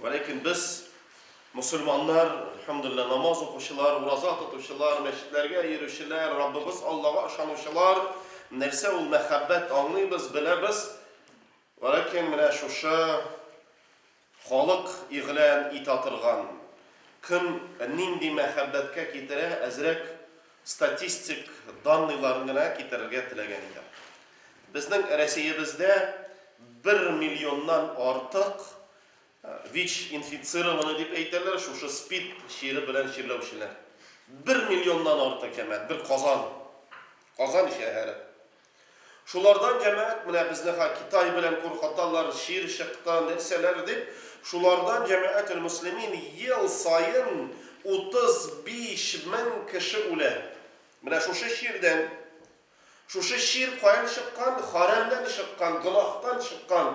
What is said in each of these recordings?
Вәләкин без, мөселманнар, әлхәмдулиллаһ, намаз укучылар, ураза тотучылар, мәчетләргә йөрүчеләр, Раббыбыз Аллага ышанучылар, нәрсә ул мәхәббәт аңлыйбыз, беләбез. Вәләкин менә шушы халык игълан итә торган көн нинди мәхәббәткә китерә, әзрәк Статистик данныйларын гына китерергә теләгән идем. Безнең Рәсиебездә бер миллионнан артык ВИЧ инфицированный дип әйтәләр, шушы СПИД чире белән чирләүчеләр. Бер миллионнан артык, җәмәгать, бер Казан, Казан шәһәре. Шулардан җәмәгать менә безнеха Китай белән куркыталар, чир чыкты, нәрсәләр дип, шулардан җәмәгател-мөслимин ел саен 35 мең кеше үлә. Менә шушы чирдән. Шушы чир каян чыккан? Хәрәмнән чыккан, гөнаһтан чыккан,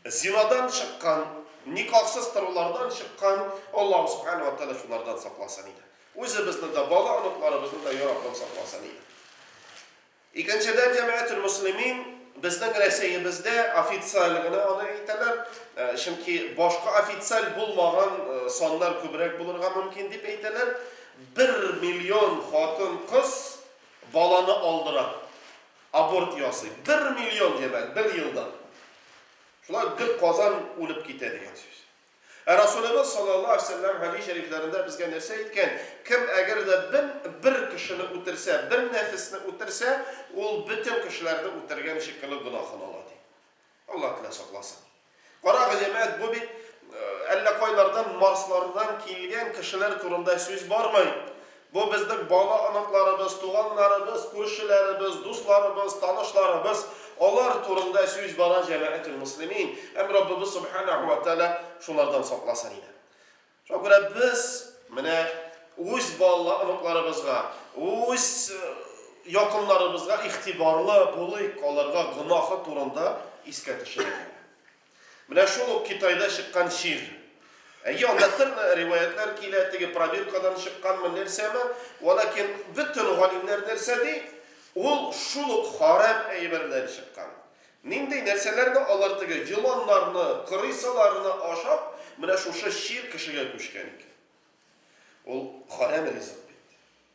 зинадан чыккан, никахсыз торулардан чыккан. Аллаһу Субхана ва Тәгалә шулардан сакласын иде. Үзебезне дә, бала-оныкларыбызны да Йә Раббым сакласын иде. Икенчедән, Җәмәгатьтел-Мөслимин безнең Рәсәебездә официаль генә аны әйтәләр, чөнки башка официаль булмаган саннар күбрәк булырга мөмкин дип әйтәләр, бер миллион хатын-кыз баланы алдыра, аборт ясый. Бер миллион, җәмәгать, бер елда! Шулай ук бер Казан үлеп китә дигән сүз. Ә Расулебез саллаллаһу алейһи вә сәлләм хәдис шәрифләрендә безгә нәрсә әйткән? Кем әгәр дә бен бер кешене үтерсә, бер нәфесне үтерсә, ул бөтен кешеләрне үтергән шикелле гөнаһын ала, ди. Аллаһ Тәгалә сакласын. Карагыз, җәмәгать, бу бит әллә кайлардан, марслардан килгән кешеләр турында сүз бармый. Бу безнең бала-оныкларыбыз, туганнарыбыз, күршеләребез, дусларыбыз, танышларыбыз, алар турында сүз бара, җәмәгател-мөслимин, һәм Раббыбыз Субханәһү вә Тәгалә шулардан сакласын иде. Шуңа күрә без менә үз бала-оныкларыбызга, үз якыннарыбызга игътибарлы булыйк, аларга гөнаһы турында искә төшерик. Менә шул ук Китайда чыккан чир. Әйе, анда төрле риваятьләр килә, теге пробиркадан чыкканмы, нәрсәме. Вәлакин бөтен галимнәр нәрсә ди? Ул шул ук харам әйбердән чыккан. Нинди нәрсәләрне алар теге еланнарны, крысаларны ашап, менә шушы чир кешегә күчкән икән. Ул харам ризык бит.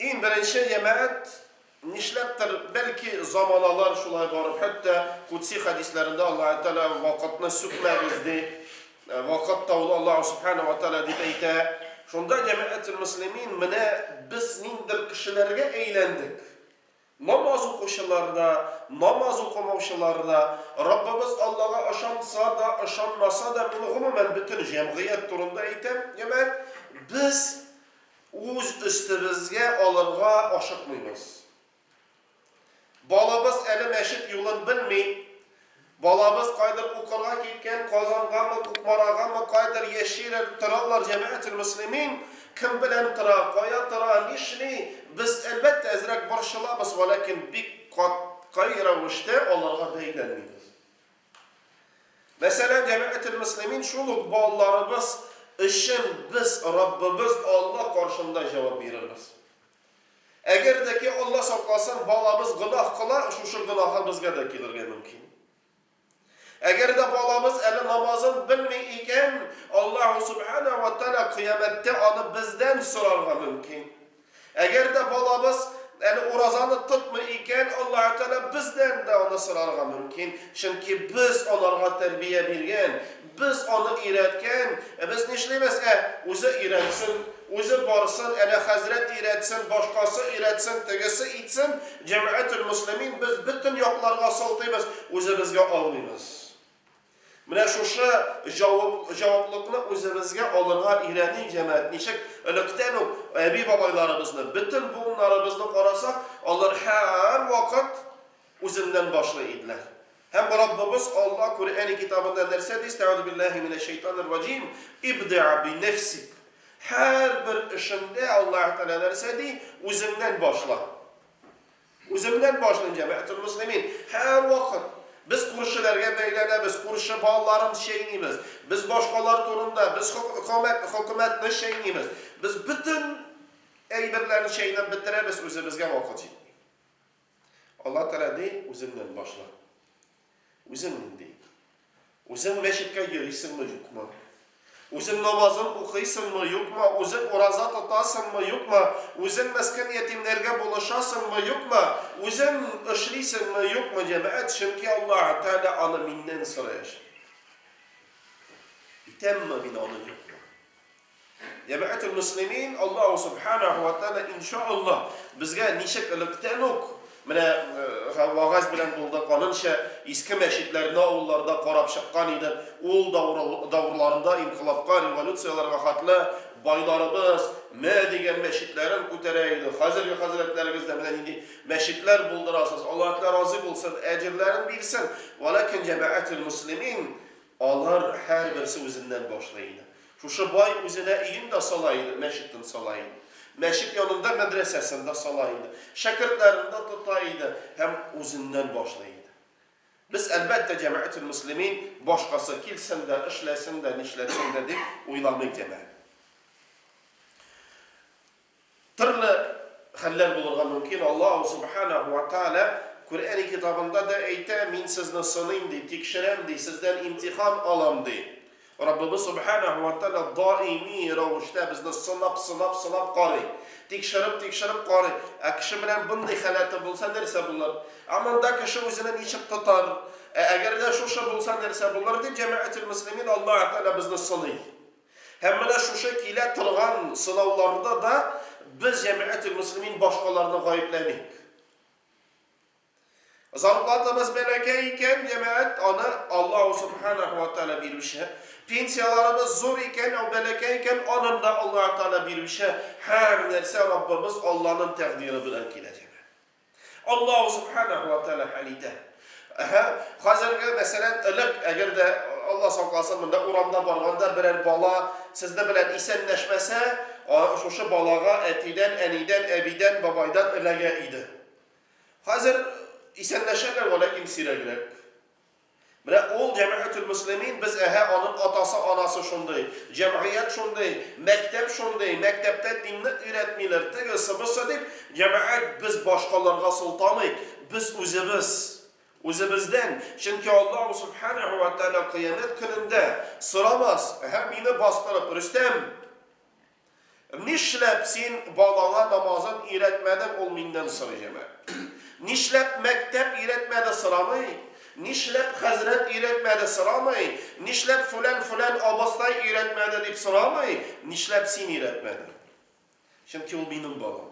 Иң беренче җәмәгать, нишләптер, бәлки заманалар шулай барып, хәтта кудси хәдисләрендә Аллаһ Тәгалә вакытны сүкмәгез ди, э, вакыт таулы Аллаһ Субхана ва Тәгалә дип әйтә. Шунда җәмәгател муслимин менә без ниндер кешеләргә әйләндек. Намаз укучылар да, намаз укымаучылар да, Раббыбыз Аллага ышанса да, ышанмаса да, мин гомумән бөтен җәмгыять турында әйтәм, җәмәгать, без үз өстебезгә алырга ашыкмыйбыз. Балабыз әле мәчет юлын белми, Балабыз кайдыр укырга киткән, Казангамы, Кукмарагамы, кайдыр яши рәр, торалар, җәмәгател-мөслимин, кем белән тора, кая тора, нишли, без, әлбәттә, әзрәк борчылабыз, вәләкин бик катгый рәвештә аларга бәйләнмибез. Мәсәлән, җәмәгател-мөслимин, шул ук балаларыбыз өчен без Раббыбыз Алла каршында җавап бирербез. Әгәр дә ки, Алла сакласын, балабыз гөнаһ кыла, шушы гөнаһы безгә дә килергә мөмкин. Әгәр дә балабыз әле намазын белми икән, Аллаһу субхана ва тәала кыямәттә аны бездән сорарга мөмкин. Әгәр дә балабыз әле уразаны тотмый икән, Аллаһу тәала бездән дә аны сорарга мөмкин. Чөнки без аларга тәрбия биргән, Без аны өйрәткән, ә без нишлибез? Ә, үзе өйрәнсен, үзе барсын, әнә хәзрәт өйрәтсен, башкасы өйрәтсен, тегесе итсен, җәмәгател-мөслимин, без бөтен якларга сылтыйбыз, үзебезгә алмыйбыз. Менә шушы җаваплыкны үзебезгә алырга өйрәним, җәмәгать. Ничек электән үк әби-бабайларыбызны, бөтен буыннарыбызны карасак, алар һәрвакыт үзеннән башлый иделәр. Һәм Раббыбыз Алла Куръәни китабында нәрсә ди, Истәгъүзү билләһи минәш-шәйтанир раҗим, Ибдиа би нәфсик. Һәрбер эшеңдә Аллаһы Тәгалә нәрсә ди, үзеңнән башла. Үземнән башлыйм, җәмәгател мөслимин. Һәрвакыт без күршеләргә бәйләнәбез, күрше балаларын чәйнибез, без башкалар турында, без хөкүмәт, хөкүмәтне чәйнибез, без бөтен әйберләрне чәйнәп бетерәбез, үзебезгә вакыт җитми. Алла Тәгалә ди, үзеңнән башла. Үзең нинди? Үзең мәчеткә йөрисеңме, юкмы? Үзең намазың укыйсыңмы, юкмы? Үзең ураза тотасыңмы, юкмы? Үзең мәскән ятимнәргә булышасыңмы, юкмы? Үзең эшлисеңме, юкмы, җәмәгать? Чөнки Алла Тәгалә аны миннән сораячак. Итәмме мин аны, юкмы? Җәмәгател мөслимин, Аллаһу Субханәһү вә Тәгалә инша Аллаһ безгә ничек электән үк менә вагазь белән булды, канынча иске мәчетләрне авылларда карап чыккан иде, ул давырларында инкыйлабка, революцияләргә хәтле байларыбыз мә дигән мәчетләрен күтәрә иде, хәзерге хәзрәтләребез дә менә нинди мәчетләр булдырасыз, Аллаһ Тәгалә разый булсын, әҗерләрен бирсен, вәләкин җәмәгател мөслимин, Алар һәрберсе үзеннән башлый иде. Шушы бай үзенә өен дә сала иде, мәчетен сала иде. Мәчет янында мәдрәсәсен дә сала иде. Шәкертләрен дә тота иде һәм үзеннән башлый иде. Без, әлбәттә, Җәмәгател-Мөслимин башкасы килсен дә, эшләсен дә, нишләтсен дә дип уйламый идек әле. Төрле хәлләр булырга мөмкин. Аллаһу Субханәһу вә Тәгалә Күрәни китабында да әйтә, Мин сезне сыныйм, ди, тикшерәм, ди, сездән имтихан алам, ди. Раббыбыз Субханәһу вә Тәгалә даими рәвештә безне сынап, сынап, сынап карый. Тикшереп, тикшереп карый. Ә кеше белән мондый халәте булса, нәрсә булыр? Ә монда кеше үзенә ничек тотар? Ә әгәр дә шушы булса, нәрсә булыр? дип, Җәмәгател-мөслимин, Аллаһу Тәгалә безне сыный. Һәм менә шушы килә торган сынауларда да без Җәмәгател-Мөслимин башкаларны гаепләмик. Зарплатабыз бәләкәй икән, җәмәгать, аны Аллаһу субханаху ва тааля бирүче. Пенсияларыбыз зур икән, ау бәләкәй икән, аны да Аллаһу тааля бирүче. Һәр нәрсә Раббыбыз Алланың тәкъдире белән килә, җәмәгать. Аллаһу Субханәһу ва Тәгалә хәл итә. Әһә, хәзерге, мәсәлән, элек, әгәр дә Алла сакласын, монда урамда барганда берәр бала сезне белән исәнләшмәсә, шушы балага әтидән, әнидән, әбидән, бабайдан эләгә иде. Хәзер исәнләшәләр, вәләкин сирәгрәк. Менә ул Җәмәгатьул-Мөслимин, без әһә аның атасы, анасы шундый, җәмгыять шундый, мәктәп шундый, мәктәптә динне өйрәтмиләр, тегесе, бусы дип, җәмәгать без башкаларга сылтамыйк, без үзебез, үзебездән, чөнки Аллаһу Сүбхәнәһү вә Тәгалә кыямәт көнендә сорамас, әһә, мине бастырып, Рөстәм! Нишләп син балаңа намазын өйрәтмәдең, ул миннән сорый һәмә. Нишләп мәктәп өйрәтмәде сорамый, нишләп хәзрәт өйрәтмәде сорамый, нишләп фүлән-фүлән абыстай өйрәтмәде дип сорамый, нишләп син өйрәтмәдең? Чөнки ул минем балам.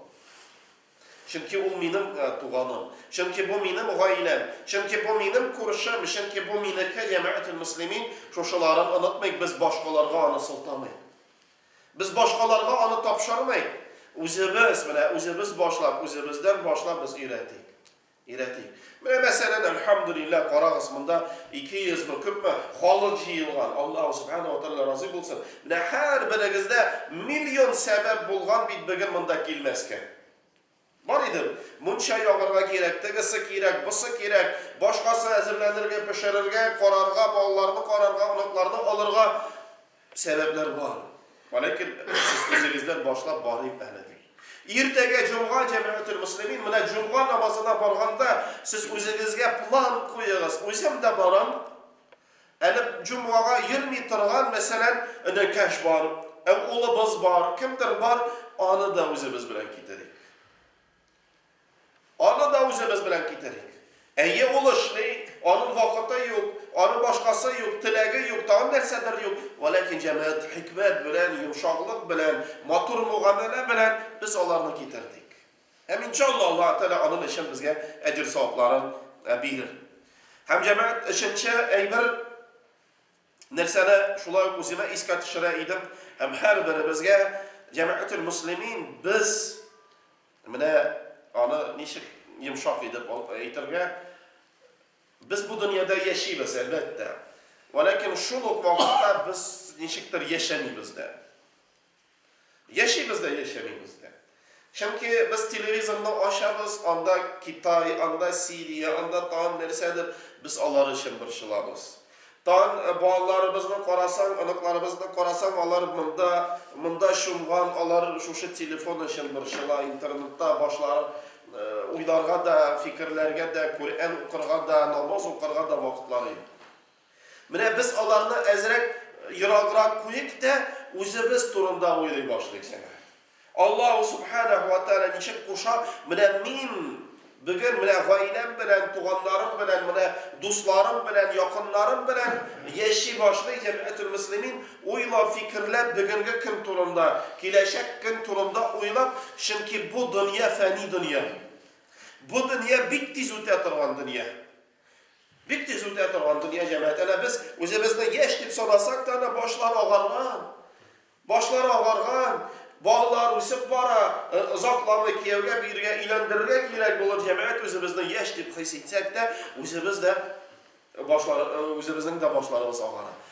Чөнки ул минем туганым. Чөнки бу минем гаиләм. Чөнки бу минем күршем. Чөнки бу минеке, җәмәгател мөслимин, шушыларын онытмыйк, без башкаларга аны сылтамыйк. Без башкаларга аны тапшырмыйк, үзебез, менә үзебез башлап, үзебездән башлап без өйрәтик. Өйрәтик. Менә мәсәлән, әлхәмдүлилләһ, карагыз, монда 200 мы, күпме халык җыелган. Аллаһу субхана ва тәгалә разый булсын. Менә һәрберегездә миллион сәбәп булган бит бүген монда килмәскә. Бар идем. Мунча ягарга кирәк, тегесе кирәк, босы кирәк, башкасы әзерләнергә, пешерергә, карарга, балаларны карарга, оныкларны алырга. Сәбәпләр бар. Вәләкин сез үзегездән башлап барыйк әле, дим. Иртәгә җомга җәмәгател-мөслимин, менә җомга намазына барганда сез үзегезгә план куегыз, үзем дә барам, Әле җомгага йөрми торган, мәсәлән, энекәш бар, ә улыбыз бар, кемдер бар, аны да үзебез белән китерик. Аны да үзебез белән китерик. Әйе, ул эшли, аның вакыты юк, аның башкасы юк, теләге юк, тагын нәрсәдер юк. Вәләкин җәмәгать хикмәт белән, йомшаклык белән, матур мугамәлә белән без аларны китердек. Һәм иншалла Аллаһ Тәгалә аның өчен безгә әҗер-савапларын бирер. Һәм җәмәгать өченче әйбер нәрсәне шулай ук үземә искә төшерә идем һәм һәрберебезгә җәмәгател муслимин без менә аны ничек йомшак итеп әйтергә без бу дөньяда яшибез әлбәттә. Валәкин шул ук вакытта без ничектер яшәмибез дә. Яшибез дә, яшәмибез дә. Чөнки без телевизорны ачабыз, анда Китай, анда Сирия, анда тагын нәрсәдер, без алар өчен борчылабыз. Тагын балаларыбызны карасаң, оныкларыбызны карасаң, алар монда, монда чумган, алар шушы телефон өчен борчыла, интернетта башларын уйларга да, фикерләргә дә, Коръән укырга да, намаз укырга да вакытлары юк. Менә без аларны әзрәк ераграк куйыйк тә, үзебез турында уйлый башлыйк сәңа. Аллаһу субханәһу ва тәгалә ничек куша, менә мин бүген менә гаиләм белән, туганнарым белән, менә дусларым белән, якыннарым белән яши башлый җәмәгатьтул муслимин, уйлап, фикерләп, бүгенге көн турында, киләчәк көн турында уйлап, чөнки бу дөнья фәни дөнья. Бу дөнья бик тиз үтә торган дөнья. Бик тиз үтә торган дөнья, җәмәгать. Әнә без үзебезне яшь дип санасак та, әнә башлар агарган. Башлар агарган, балалар үсеп бара, э, озакламый кияүгә бирергә, өйләндерергә кирәк булыр, җәмәгать үзебезне яшь дип хис итсәк тә, үзебез дә башлар, э, үзебезнең дә башларыбыз агара.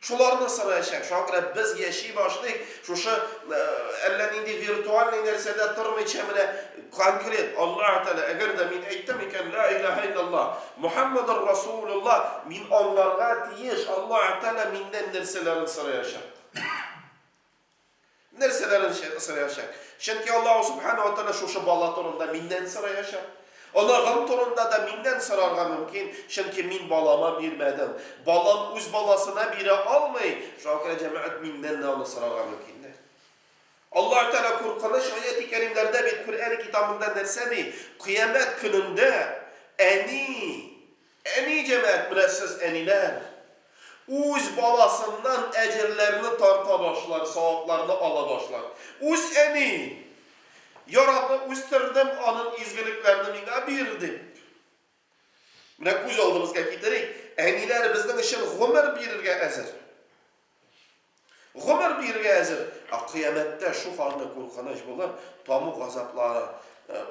Шуларны сораячак. Шуңа күрә без яши башлыйк, шушы әллә нинди виртуальный нәрсәдә тормыйча, менә конкрет Аллаһ Тәгалә, әгәр дә мин әйттем икән, ла илаһа илляллаһ, Мухаммадур Расулуллаһ, мин аңларга тиеш, Аллаһ Тәгалә миннән нәрсәләрен сораячак. Нәрсәләрен сораячак? Чөнки Аллаһу Субхана ва Тәгалә шушы бала турында миннән сораячак. Оныгым турында да миннән сорарга мөмкин, чөнки мин балама бирмәдем. Балам үз баласына бирә алмый, шуңа күрә җәмәгать миннән дә аны сорарга мөмкиндер. Аллаһу Тәгалә куркыныч аяти кәримнәрдә бит Коръән китабында нәрсә ди? Кыямәт көнендә әни Әни җәмәгать, менә сез әниләр, үз баласыннан әҗерләрне тарта башлар, савапларны ала башлар. Үз әни, Я Раббы, үстердем, анын изгелекләрне миңа бир, дип. Менә күз алдыбызга китерик, әниләр безнең өчен гомер бирергә әзер. Гомер бирергә әзер, ә кыямәттә шул ханны куркыныч булыр, таму газаплары,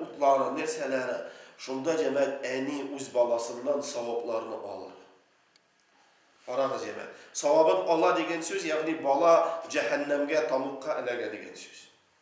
утлары, нәрсәләре. Шунда җәмәгать әни үз баласыннан савапларны алыр. Карагыз, җәмәгать, савабын ала дигән сүз, ягъни бала җәһәннәмгә, тамукка эләгә дигән сүз.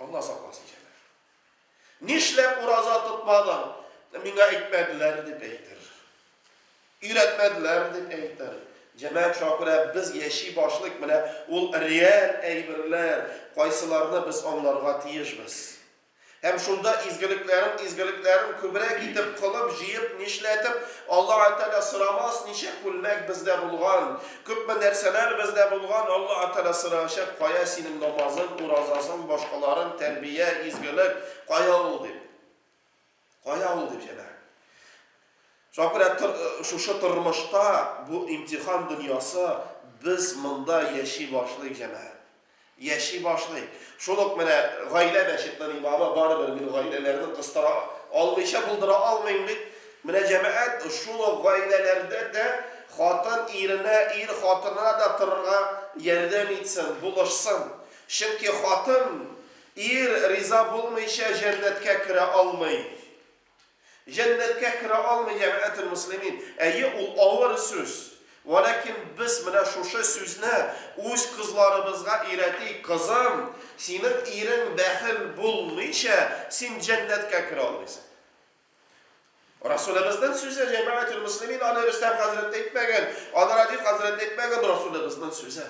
Алла сакласын, җәнәф. Нишләп ураза тотмадың? Миңа әйтмәделәр, дип әйтер. Өйрәтмәделәр, дип әйтер. Җәмәгать шуңа күрә без яши башлыйк, менә ул реаль әйберләр, кайсыларны без аңларга тиешбез. Һәм шунда изгелекләрен, изгелекләрен күбрәк итеп кылып, җыеп, нишләтеп, Аллаһы Тәгалә сорамас, ничә күлмәк бездә булган, Күпме нәрсәләр бездә булган, Алла Аталә сорачак, кая синең намазың, уразасың, башкаларың, тәрбия, изгелек, кая ул дип. Кая ул дип, җәмәгать. Шуңа күрә шушы тормышта бу имтихан дөньясы без монда яши башлыйк, җәмәгать. Яши башлый. Шул ук менә гаилә мәчетнең имамы, барыбер мин гаиләләрне кыстыра алмыйча булдыра алмыйм бит. Менә җәмәгать шул ук гаиләләрдә дә хатын иренә, ир хатынына да торырга ярдәм итсен, булышсын. Чөнки хатын, ир риза булмыйча җәннәткә керә алмый. Җәннәткә керә алмый җәмәәтелмөслимин. Әйе, ул авыр сүз. Вәләкин без менә шушы сүзне үз кызларыбызга өйрәтик, кызым, синең ирең бәхил булмыйча, син җәннәткә керә алмыйсың. Расулебезнең сүзе, җәмәәтелмөслимин, аны Рөстәм хәзрәт әйтмәгән, аны Радиф хәзрәт әйтмәгән, Расулебезнең сүзе.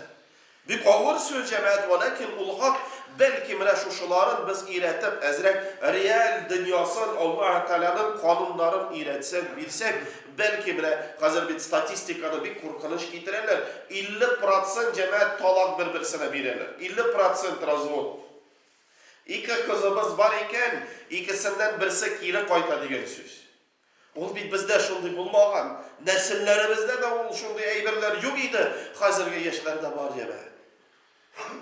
Бик авыр сүз, җәмәгать, вәләкин ул хак, бәлки менә шушыларын без өйрәтеп, әзрәк реаль дөньясын, Аллаһы Тәгаләнең кануннарын өйрәтсәк, бирсәк, бәлки менә, хәзер бит статистиканы бик куркыныч китерәләр, 50 процент, җәмәгать, талак бер-берсенә бирәләр, 50 процент развод. Ике кызыбыз бар икән, икесеннән берсе кире кайта дигән сүз. Ул бит бездә шундый булмаган, нәселләребездә дә ул шундый әйберләр юк иде, хәзерге яшьләрдә бар, яме.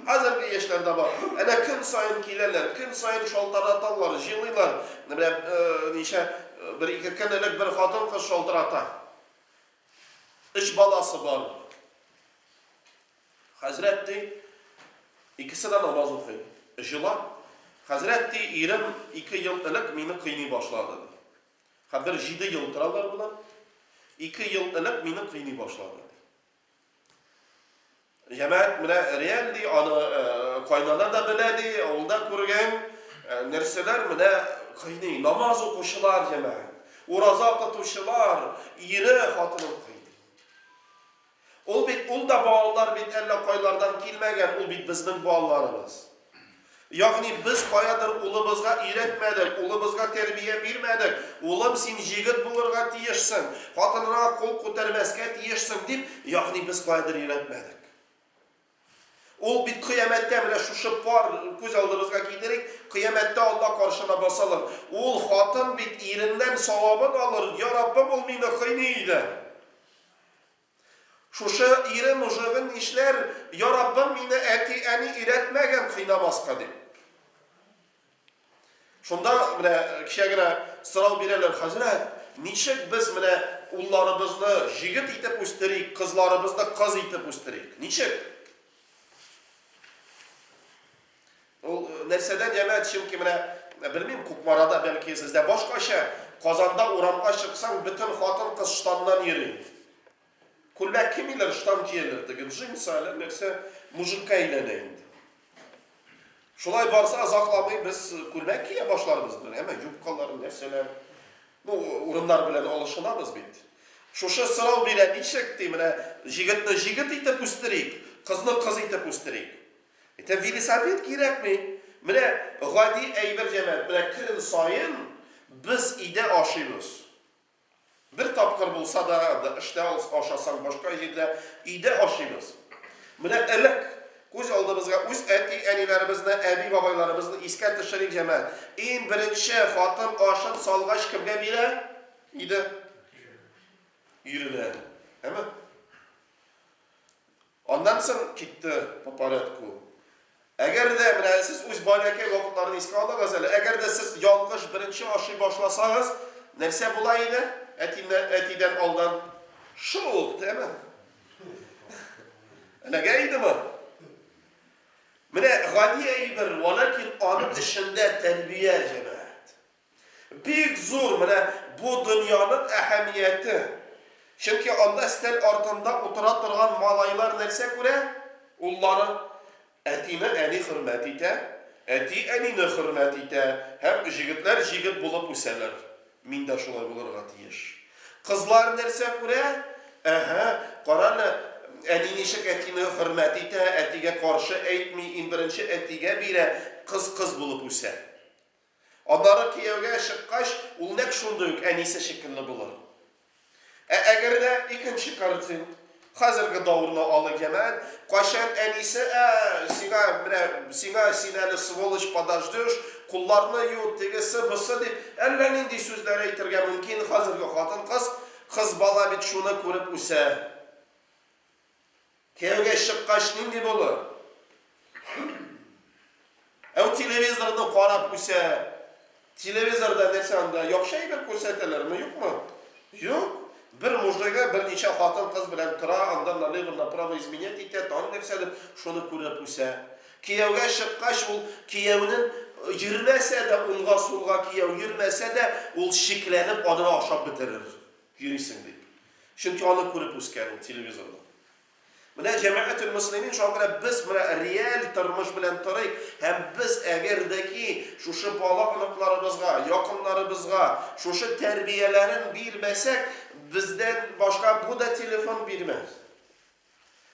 Хәзерге яшьләрдә бар. Әнә көн саен киләләр, көн саен шалтыраталар, җылыйлар. Менә ничә бер-ике көн элек бер хатын-кыз шалтырата. Өч баласы бар. Хәзрәт, ди, икесе дә намаз укый. Җылап, Хәзрәт, ди, ирем ике ел элек мине кыйный башлады, ди. Хәзер җиде ел торалар болар. Ике ел элек мине кыйный башлады, ди. Җәмәгать менә реаль, ди, аны кайнана да белә, ди, авылда күргән нәрсәләр менә кыйный. Намаз укучылар, җәмәгать. Ураза тотучылар, ире хатынын кыйный. Ул бит, ул да балалар бит әллә кайлардан килмәгән, ул бит безнең балаларыбыз. Ягъни без каядыр улыбызга өйрәтмәдек, улыбызга тәрбия бирмәдек, улым, син җегет булырга тиешсең, хатыныңа кул күтәрмәскә тиешсең дип, ягъни без каядыр өйрәтмәдек. Ул бит кыямәттә, менә шушы пар күз алдыбызга китерик, кыямәттә Алла каршына басалар. Ул хатын бит иреннән савабын алыр, Йа Раббым, ул мине кыйный иде. Шушы ире нужыгын нишләр, Йа Раббым, мине әти-әни өйрәтмәгән кыйнамаска дип. Шунда менә кичә генә сорау бирәләр, хәзрәт, ничек без менә улларыбызны җигет итеп үстерик, кызларыбызны кыз итеп үстерик? Ничек? Ул э, нәрсәдән ямәт, чөнки менә э, белмим, Кукмарада бәлки сездә башкача, Казанда урамга чыксаң, бөтен хатын-кыз штаннан йөри. Күлмәк кимиләр, штан кияләр, теге джинсы, әллә нәрсә, мужикка әйләнә инде. Шулай барса, озакламый без күлмәк кия башларбыз бер, әмма юбкалар, нәрсәләр. Ну, урыннар белән алышынабыз бит. Шушы сорау бирә, ничек ди, менә җигетне җигет итеп үстерик, кызны кыз итеп үстерик. Әйтә, велосипед кирәкми. Менә гади әйбер җәмәгать, менә көн саен без өйдә ашыйбыз. Бер тапкыр булса да да эштә ашасаң, башка җирдә, өйдә ашыйбыз. Менә элек, күз алдыбызга үз әти-әниләребезне, әби-бабайларыбызны искә төшерик, җәмәгать. Иң беренче хатын ашын салгач кемгә бирә иде? Иренә. Әме? Аннан соң китте по порядку. Әгәр дә, менә сез үз баләкәй вакытларны искә алыгыз әле, әгәр дә сез ялгыш беренче ашый башласагыз, нәрсә була иде әтиннән, әтидән алдан? Шук, дәме. Эләгә идеме? Менә гади әйбер, валәкин аның эчендә тәрбия җәмәгать. Бик зур менә бу дөньяның әһәмияте. Чөнки анда өстәл артында утыра торган малайлар нәрсә күрә? Уллары. Әтине әни хөрмәт итә, әти әнине хөрмәт итә һәм җегетләр җигет булып үсәләр. Мин дә шулай булырга тиеш. Кызлар нәрсә күрә? Әһә, карале, әни ничек әтине хөрмәт итә, әтигә каршы әйтми, иң беренче әтигә бирә, кыз кыз булып үсә. Аннары кияүгә чыккач, ул нәкъ шундый ук әнисе шикелле булыр. Ә әгәр дә икенче картин, хәзерге давырны алыйк, җәмәгать, кайчан әнисе, Ә, сиңа, менә сиңа, син әле сволочь, подождешь, кулларны ю, тегесе, бысы, дип, әллә нинди сүзләр әйтергә мөмкин Хәзерге хатын-кыз, кыз бала бит шуны күреп үсә. Кияүгә чыккач нинди булыр? Әү телевизорны карап үсә. Телевизорда нәрсә анда? Яхшы әйбер күрсәтәләрме, юкмы? Юк. Бер мужигы берничә хатын-кыз белән тора, анда налево направо изменять итә, тагын нәрсәдер, шуны күреп үсә. Кияүгә чыккач, ул кияүнең йөрмәсә дә, уңга-сулга кияү йөрмәсә дә, ул шикләнеп, аны ашап бетерер. Йөрисең дип. Чөнки аны күреп үскән ул телевизорда. Менә Җәмәгател Мөслимин шуңа күрә без менә реаль тормыш белән торыйк һәм без әгәр дә ки шушы бала оныкларыбызга, якыннарыбызга шушы тәрбияләрен бирмәсәк, бездән башка бу да телефон бирмәс.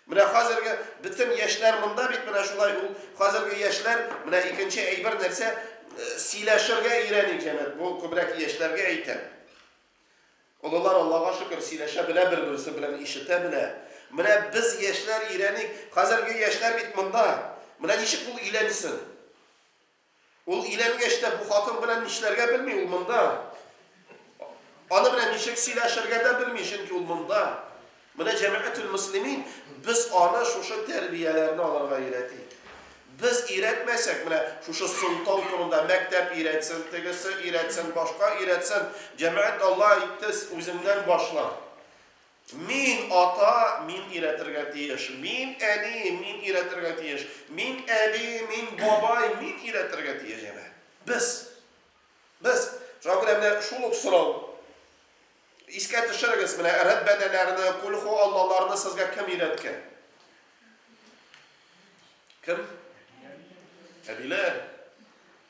Менә хәзерге бөтен яшьләр монда бит менә шулай ул хәзерге яшьләр менә икенче әйбер нәрсә э, сөйләшергә өйрәник җәмәгать. Бу күбрәк яшьләргә әйтәм. Олылар, Аллага шөкер, сөйләшә белә бер-берсе белән, ишетә белә. Менә без, яшьләр, өйрәник. Хәзерге яшьләр бит монда. Менә ничек ул өйләнсен? Ул өйләнгәч тә бу хатын белән нишләргә белми, ул монда. Аны белән ничек сөйләшергә дә белми, чөнки ул монда. Менә Җәмәгател Мөслимин без аны шушы тәрбияләрне алырга өйрәти. Без өйрәтмәсәк, менә шушы сылтау турында мәктәп өйрәтсен, тегесе өйрәтсен, башка өйрәтсен, җәмәгать Алла әйтте, үзеңнән башла. Мин ата, мин өйрәтергә тиеш. Мин әни, мин өйрәтергә тиеш. Мин әби, мин бабай, мин өйрәтергә тиеш җәмәгать. Без. Без. Шуңа күрә менә шул ук сорау. Искә төшерегез, менә рәт бәдәләрне, кульху аллаларны сезгә кем өйрәткән? Кем? Әбиләр.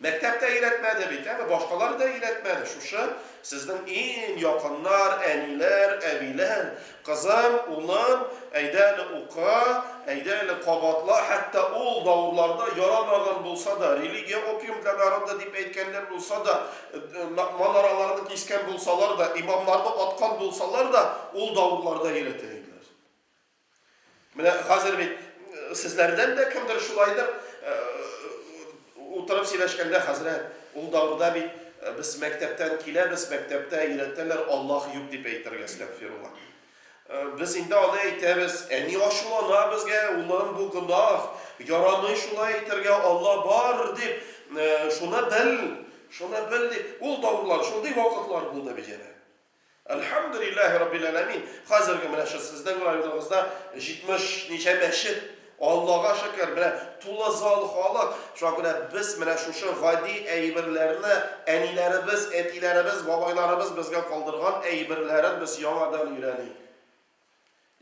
Мәктәптә өйрәтмәде бит, әме башкалар да өйрәтмәде. Шушы сезнең иң якыннар, әниләр, әбиләр, кызым, улым, әйдә әле ука, әйдә әле кабатла, хәтта ул давырларда ярамаган булса да, религия опиум для народа дип әйткәннәр булса да, манараларны кискән булсалар да, имамнарны аткан булсалар да, ул давырларда йөрәтә иделәр. Менә хәзер бит э, сезләрдән дә кемдер шулайдыр э, утырып сөйләшкәндә хәзрәт, ул давырда бит э, без мәктәптән киләбез, мәктәптә йөрәтәләр, Аллаһ юк дип әйтергә, әстәгфирулла. Без инде аны әйтәбез. Әни ачулана безгә, улым, бу гөнаһ, ярамый шулай әйтергә, Алла бар дип, шуны бел, шуны бел дип. Ул давырлар, шундый вакытлар булды бит янә. Әлхәмдүлилләһи раббил әләмин, хәзерге менә шул сезнең районыгызда 70 ничә мәчет Аллага шөкер, менә тулы зал халык, шуңа күрә без менә шушы гади әйберләрне, әниләребез, әтиләребез, бабайларыбыз безгә калдырган әйберләрен без яңадан өйрәник.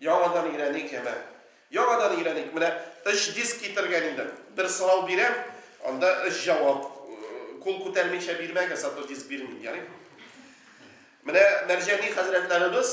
Яңадан өйрәник, яме. Яңадан өйрәник. Менә өч диск китергән идем. Бер сорау бирәм, анда өч җавап. Кул күтәрмичә бирмәгез, а то диск бирмим, ярый? Менә Мәрҗани хәзрәтләребез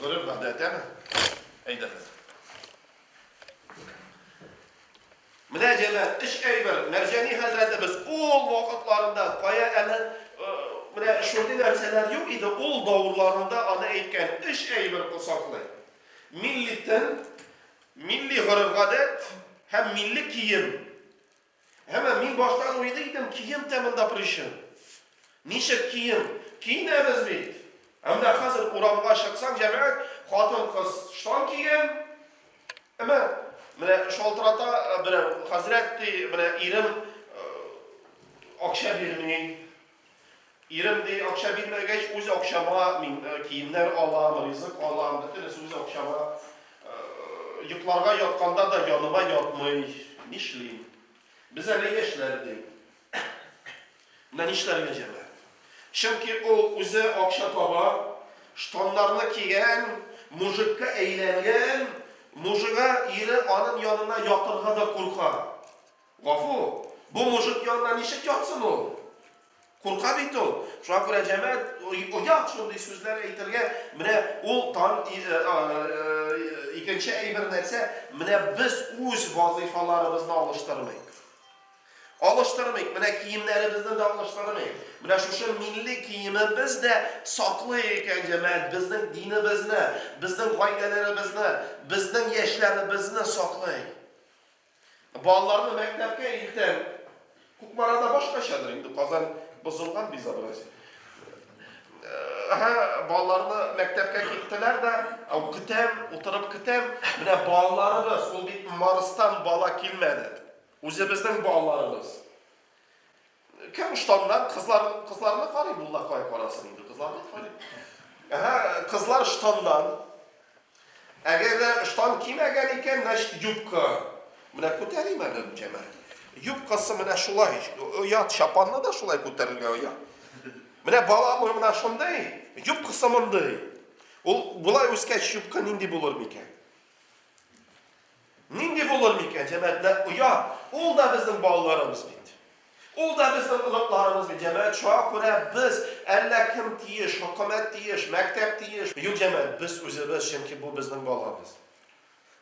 Гореф-гадәтәме? Әйдәгез. Менә җәлә эш әйбер, Мәрҗәни хәзрәтебез ул вакытларында кая әле менә шундый нәрсәләр юк иде, ул давырларында аны әйткән, эш әйбер косаклый. Милли тел, милли гореф-гадәт һәм милли кием Әмма мин баштан уйлый идем, кием тә монда причин. Ничек кием? Киенәбез бит. Ә менә хәзер урамга чыксаң, җәмәгать, хатын-кыз штан кигән. Әмма менә шалтырата берәү, хәзрәт ди, менә ирем акча бирми, Ирем, ди, акча бирмәгәч, үз акчама мин э, киемнәр алам, ризык алам, бөтенесе үз акчама. Э, йокларга ятканда да яныма ятмый. Нишлим? Без әле яшьләр, ди. Менә нишләргә җәмә. Чөнки ул үзе акча таба, штаннарны кигән, мужикка әйләнгән, мужига ире аның янына ятырга да курка. Гафу, бу мужик янында ничек ятсын ул? Курка бит ул. Шуңа күрә җәмәгать оят шундый сүзләр әйтергә, менә ул тан икенче әйбер нәрсә, менә без үз вазыйфаларыбызны алыштырмыйк. Алыштырмыйк, менә киемнәребезне дә алыштырмыйк. Менә шушы милли киемебез дә саклый икән җәмәгать безнең динебезне, безнең гаиләләребезне, безнең яшьләребезне саклый. Балаларны мәктәпкә илтәм. Кукмарада башкачадыр инде, Казан бозылган безобразие. Ага, балаларны мәктәпкә киттеләр дә, көтәм, утырып көтәм. Менә балаларыбыз, ул бит Марстан бала килмәде. Үзебезнең балаларыбыз. Кем штаннар, кызлар, кызларны карый, мулла кая карасын инде, кызларны карый. Әһә, кызлар штаннан. Әгәр дә штан кимәгән икән, значит юбка. Менә күтәрим әле җәмәгать. Юбкасы менә шулай, оят чапанны да шулай күтәрергә оят. Менә баламы менә шундый, юбкасы мондый. Ул болай үскәч юбка нинди булыр микән? Нинди булыр микән, җәмәгать, нәкъ оят? Ул да безнең балаларыбыз бит. Ул да безнең оныкларыбыз бит, җәмәгать, шуңа күрә без, әллә кем тиеш, хөкүмәт тиеш, мәктәп тиеш. Юк, җәмәгать, без үзебез, чөнки бу безнең балабыз.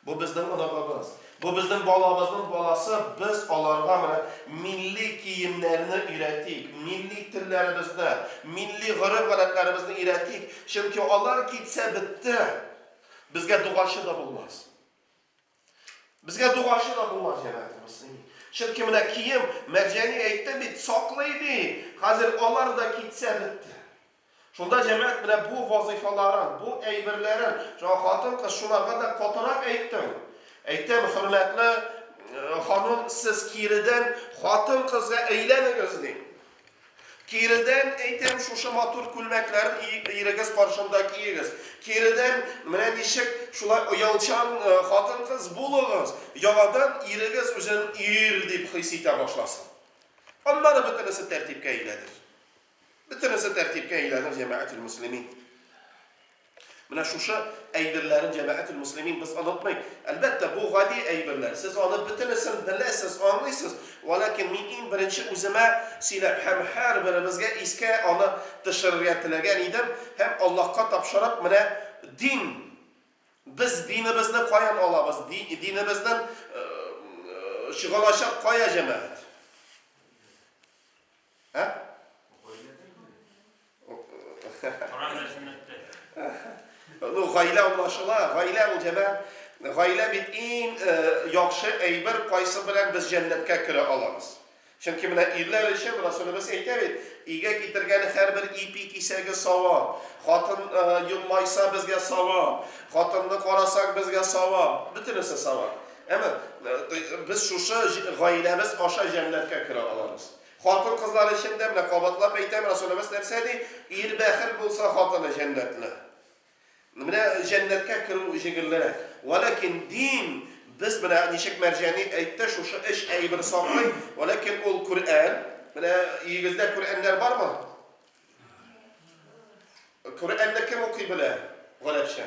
Бу безнең оныгыбыз. Бу безнең балабызның баласы, без аларга менә милли киемнәрне өйрәтик, милли телләребезне, милли гореф-гадәтләребезне өйрәтик, чөнки алар китсә, бетте, безгә дугачы да булмас. Безгә дугачы да булмас җәмәгатебез. Чөнки менә кием, Мәдиәни әйтте бит, саклый ди. Хәзер алар да китсә бетте. Шунда җәмәгать менә бу вазыйфаларын, бу әйберләрен, шуңа хатын-кыз шуларга да катырак әйттем. Әйтәм, хөрмәтле э, ханым, сез киредән хатын-кызга әйләнегез, дим. Киредән әйтәм, шушы матур күлмәкләрен ирегез каршында киегез. Киредән, менә ничек шулай оялчан хатын-кыз булыгыз, яңадан ирегез үзен ир дип хис итә башласын. Аннары бөтенесе тәртипкә әйләнер. Бөтенесе тәртипкә әйләнер, җәмәгател мөслимин. Менә шушы әйберләрен, җәмәгател-мөслимин, без онытмыйк. Әлбәттә, бу гади әйберләр. Сез аны бөтенесен беләсез, аңлыйсыз. Вәлакин мин иң беренче үземә сөйләп һәм һәрберебезгә искә аны төшерергә теләгән идем һәм Аллаһка тапшырып, менә дин, без динебезне каян алабыз, динебезнен чыгалачак кая, җәмәгать? Ә? Коран дәресен үтте. Ну, гаилә аңлашыла, гаилә ул җәмәгать. Гаилә бит иң э, яхшы әйбер, кайсы белән без җәннәткә керә аламыз. Чөнки менә ирләр өчен Расулыбыз әйтә бит, өйгә китергән һәрбер ипи кисәге савап. Хатын э, елмайса безгә савап, хатынны карасак безгә савап, бөтенесе савап. Әмма э, без шушы гаиләбез аша җәннәткә керә алабыз. Хатын-кызлар өчен дә, менә кабатлап әйтәм, Расулебез нәрсә ди? Ир бәхил булса, хатыны җәннәтле. Менә җәннәткә керү җиңеллерәк. Вәләкин дин, без менә ничек Мәрҗани әйтте, шушы өч әйбер саклый, вәләкин ул Күрән. Менә өегездә Күрәннәр бармы? Күрәнне кем укый белә? Галәпчә.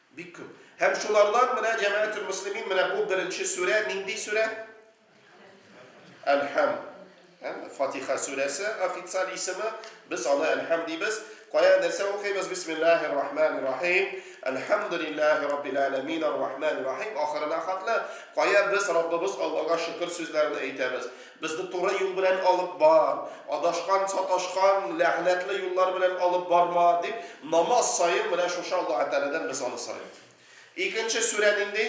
Бик күп. Һәм шулардан менә җәмәәтүл муслимин менә бу беренче сүрә, нинди сүрә? Әлхәм. Фатиха сүрәсе официаль исеме. Без аны Әлхәм дибез. Кая нәрсә укыйбыз? Бисмиллахи рахмани рахим. Әлхәмдулиллахи раббил аләмин ар-рахмани рахим ахырына хатлы. Кая без Раббыбыз Аллага шөкер сүзләрен әйтәбез. Безне туры юл белән алып бар, адашкан, саташкан, ләгънәтле юллар белән алып барма, дип, намаз саен менә шушы Аллаһы Тәгаләдән без аны сорыйбыз. Икенче сүрә нинди?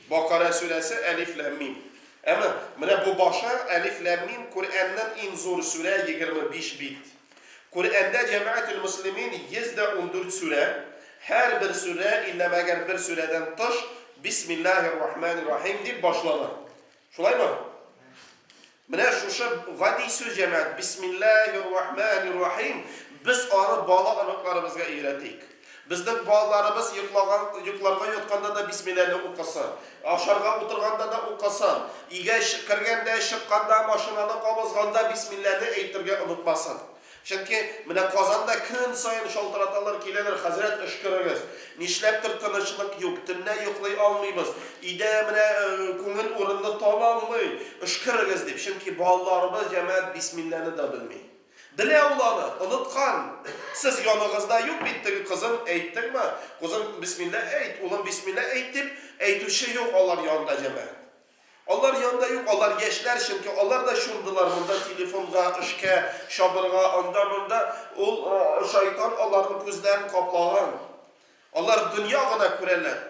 Бакара сүрәсе Әлиф ләм мим. Әмма менә бу башы Әлиф ләм мим Коръәннән иң зур сүрә 25 бит. Коръәндә Җәмәгател-Мөслимин 114 сүрә, һәрбер сүрә, илля мәгәр бер сүрәдән тыш, Бисмиллаһи-ррахмани-ррахим дип башлана. Шулаймы? Менә шушы гади сүз, җәмәгать, Бисмиллаһи-ррахмани-ррахим, без аны бала оныкларыбызга өйрәтик. Безнең балаларыбыз йоклаган, йокларга ятканда да бисмилләне укысын, ашарга утырганда да укысын, өйгә чы, кергәндә, чыкканда, машинаны кабызганда бисмилләне әйтергә онытмасын. Чөнки менә Казанда көн саен шалтыраталар, киләләр, хәзрәт, өшкерегез. Нишләптер тынычлык юк, төнлә йоклый алмыйбыз, өйдә менә күңел урынны таба алмый, өшкерегез дип. Чөнки балаларыбыз, җәмәгать, бисмилләне дә белми. Белә ул аны, оныткан. Сез яныгызда юк бит теге кызын әйттеңме? Кузым, бисмилла әйт, улым, бисмилла әйт, дип әйтүче юк алар янында, җәмәгать. Алар янында юк, алар яшьләр, чөнки алар да чумдылар монда телефонга, эшкә, чабырга, анда-монда. Ул шайтан аларның күзләрен каплаган. Алар дөнья гына күрәләр.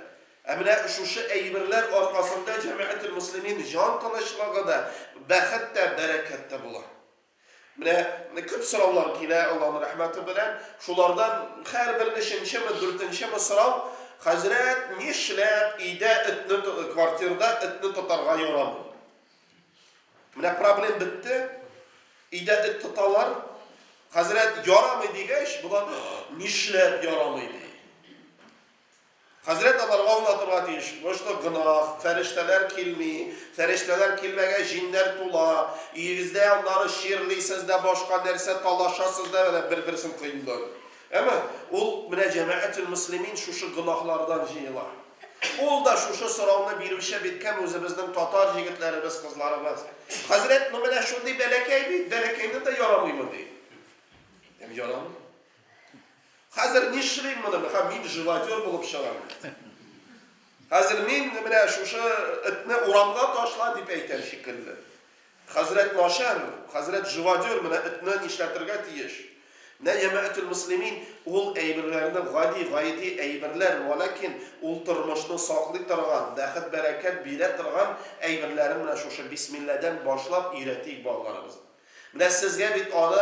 Ә менә шушы әйберләр аркасында, җәмәгател-мөслимин, җан тынычлыгы да, бәхет тә, бәрәкәт тә була. Менә күп сораулар килә, Аллаһның рәхмәте белән. Шулардан һәрбер өченчеме, дүртенчеме сорау, хәзрәт, нишләп өйдә этне, квартирда этне тотарга ярамый? Менә проблем бетте. Өйдә эт тоталар. Хәзрәт, ярамый дигәч, болар нишләп ярамый ди? Хәзрәт аларга аңлатырга тиеш, Мошны гөнаһ, фәрештәләр килми, фәрештәләр килмәгәч, җиннәр тула, өегездә аннары чирлисез дә, башка нәрсә, талашасыз да, әнә бер-берсен кыйнлый. Әмма ул менә җәмәгател-мөслимин шушы гөнаһлардан җыела. Ул да шушы сорауны бирүче бит кем үзебезнең татар җегетләребез, кызларыбыз. Хәзрәт, ну менә шундый бәләкәй бит, бәләкәйне дә ярамыймы ди. Һәм ярамый. Хәзер нишлим моны, меха мин живодер булып чыгам. Хәзер мин менә шушы этне урамга ташла дип әйтәм шикелле. Хәзрәт начар, хәзрәт живодер, менә этне нишләтергә тиеш. Менә ямәтул муслимин ул әйберләрне гади, гайди әйберләр, валакин ул тормышны саклый торган, бәхет-бәрәкәт бирә торган әйберләрен менә шушы бисмилләдән башлап өйрәтик балаларыбызга. Менә сезгә бит аны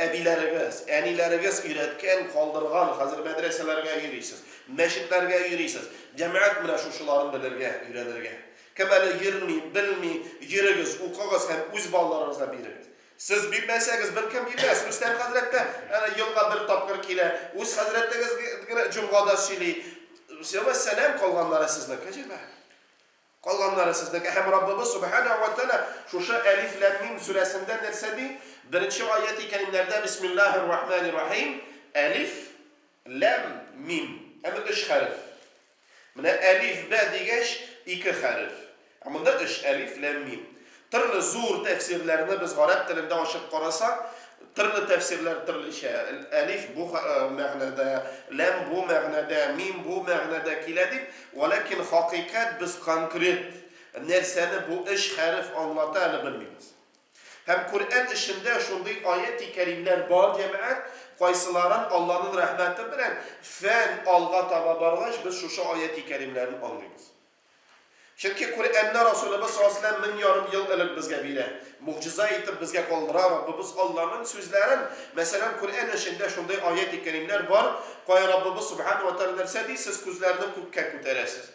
әбиләрегез, әниләрегез өйрәткән, калдырган, хәзер мәдрәсәләргә йөрисез, мәчетләргә йөрисез, җәмәгать менә шушыларын белергә, өйрәнергә. Кем әле йөрми, белми, йөрегез, укыгыз һәм үз балаларыгызга бирегез. Сез бирмәсәгез, беркем бирмәс. Рөстәм хәзрәт тә әнә елга бер тапкыр килә, үз хәзрәтегез генә җомгада сөйли. Сәлам калганнары сезнең, кәҗәмәк. Калганнары сезнеке. Һәм Раббыбыз Сүбхәнәһү вә Тәгалә шушы Әлиф ләм мим сүрәсендә нәрсә ди? Беренче аяти кәримнәрдә Бисмиллаһир рахманир рахим, Әлиф ләм мим. Әмма өч хәреф. Менә Әлиф бә дигәч, ике хәреф. Ә монда өч, Әлиф ләм мим. Төрле зур тәфсирләрне без гарәп телендә ачып карасак, төрле тәфсирләр төрлечә. Әлиф бу мәгънәдә, ләм бу мәгънәдә, мим бу мәгънәдә килә дип, вәләкин хакыйкать без конкрет нәрсәне бу өч хәреф аңлата әле белмибез. Һәм Коръән эчендә шундый аяти кәримләр бар, җәмәгать, кайсыларын Алланын рәхмәте белән фән алга таба баргач без шушы аяти кәримләрен аңлыйбыз. Чөнки Коръәнне Расулыбыз саллаллаһу галәйһи ва сәлләм мең ярым ел элек безгә бирә, могҗиза итеп безгә калдыра, Раббыбыз Алланың сүзләрен, мәсәлән, Коръән эчендә шундый аяти кәримнәр бар, кая Раббыбыз Сүбхәнәһү ва тәгалә нәрсә ди, Сез күзләрне күккә күтәрәсез.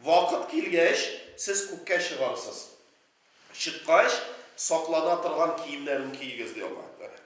Вакыт килгәч, сез күккә чыгарсыз. Чыккач, саклана торган киемнәрен киегез, ди Аллаһы Тәгалә.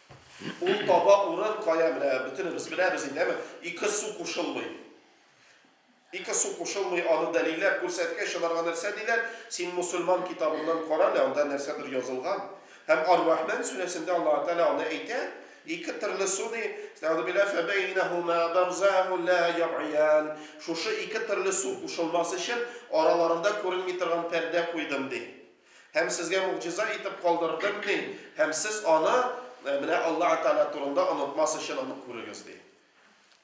Ул таба урын кая, менә бөтенебез беләбез инде, әме, ике су кушылмый. Ике су кушылмый, аны дәлилләп күрсәткәч, аларга нәрсә диләр? Син мусульман китабыннан кара әле, анда нәрсәдер язылган. Һәм Ар-Рахмән сүрәсендә Аллаһу Тәгалә аны әйтә, ике төрле су, ди, Әстәгъфирулла, фәбәйнәһүмә барзахун лә ябъиян. Шушы ике төрле су кушылмас өчен, араларында күренми торган пәрдә куйдым, ди. Һәм сезгә могҗиза итеп калдырдым мин, һәм сез аны, менә Аллаһ Тәгалә турында, онытмас өчен аны күрегез, ди.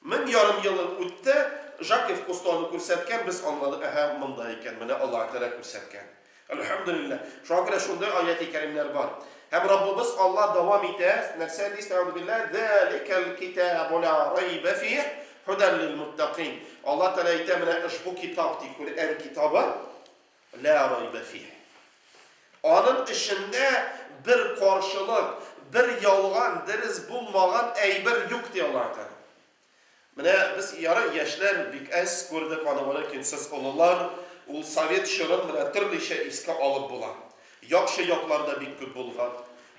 Мең ярым ел үтте, Жакев Кусто аны күрсәткән, без аңладык, әһә, монда икән, менә Аллаһ Тәгалә күрсәткән. Әлхәмдүлилләһ. Шуңа күрә шундый аяти кәримнәр бар. Һәм Раббыбыз Аллаһ дәвам итә, нәрсә ди, Әстәгъфируллаһ, Заликәл китабу ла райба фиһ, һудәл лил-муттакин. Аллаһ Тәгалә әйтә, менә ошбу китап, ди, Коръән китабы, Лә райбә фиһ. Аның эчендә бер каршылык, бер ялган, дерес булмаган әйбер юк, ди Аллаһы Тәгалә. Менә без, ярый, яшьләр бик әз күрдек аны-моны, ләкин сез, олылар, ул совет чорын менә төрлечә искә алып була. Яхшы яклар да бик күп булган.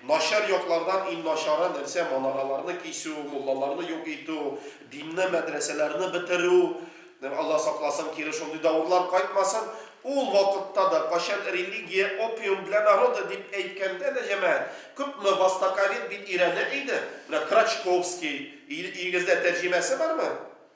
Начар яклардан иң начары нәрсә, манараларны кисү, муллаларны юк итү, динне, мәдрәсәләрне бетерү. Алла сакласын, кире шундый давырлар кайтмасын. Ул вакытта да, кайчан религия опиум для народа дип әйткәндә дә, җәмәгать, күпме востоковед бит өйрәнә иде. Менә Крачковский, ил, илегездә тәрҗемәсе бармы?